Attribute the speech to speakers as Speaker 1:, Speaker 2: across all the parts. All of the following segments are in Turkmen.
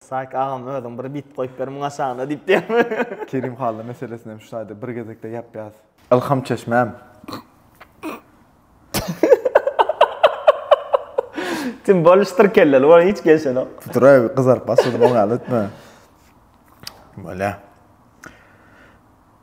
Speaker 1: Saýk agam özüň bir bit goýup ber muň aşagyna diýip diýýär. Kerim Hally meselesini hem şu taýda bir gezekde ýapýas. Ylham çeşmäm. Tim boluşdyr kelleli bolan hiç gelşenok. Tuturay gyzaryp başladym oňa ýaly etme. Bolýa.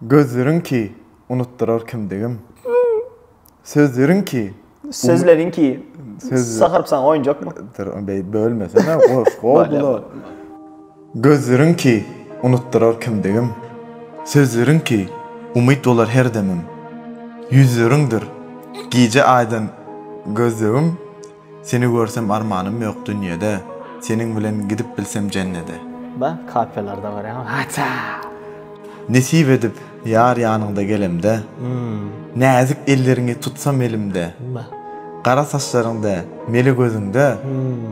Speaker 1: Gözleriň ki, unutdyrar kimdigim. Sözleriň ki, Sözleriň ki, sahyrypsaň oýunjakmy? Dur, beýdip bölmesene, goh-goh-goh. Gözleriň ki, unutdyrar kimdigim. Sözleriň ki, umyt bolar her demim. Ýüzleriňdir, gije aýdan gözlegim. Seni görsem armanym ýok dünýede, Seniň bilen gidip bilsem jennede. Da kapellarda görýän haçaa. Nesip edip ýar ýanyňda gelemde, Näzik elleriňi tutsam elimde, Gara saçlaryňda, mele gözüňde,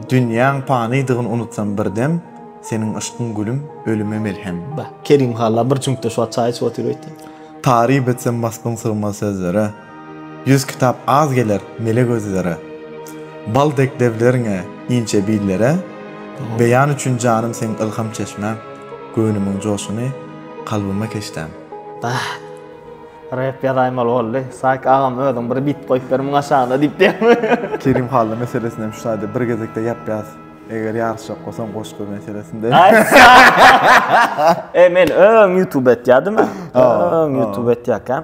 Speaker 1: Dünýäň panydygyn unutsam bir dem, Seniň yşkyň gülüm, ölüme melhem. Kerim halla bir çüňkde şu wagt çaý içip otyr öýtýär. Taryp etsem wasbyň sygmaz sözlere. Ýüz kitap az geler mele gözlere, Bal dek lebleriňe inçe billere, Beýan üçin janym seň ylham çeşmäň, Göwnümiň joşuny kalbyma keşdäň. Bah! Rep ýazaýmaly boldy. Saýk agam özüň bir bit goýup ber muň aşagyna diýip diýýärmi? Kerim Hally meselesini hem şu taýda bir gezekde ýap ýaz. Eger ýaryşjak bolsaň goşgy meselesinde. Aý sag. E men öň ýutube etýädim. Öň ýutube etýäkäm.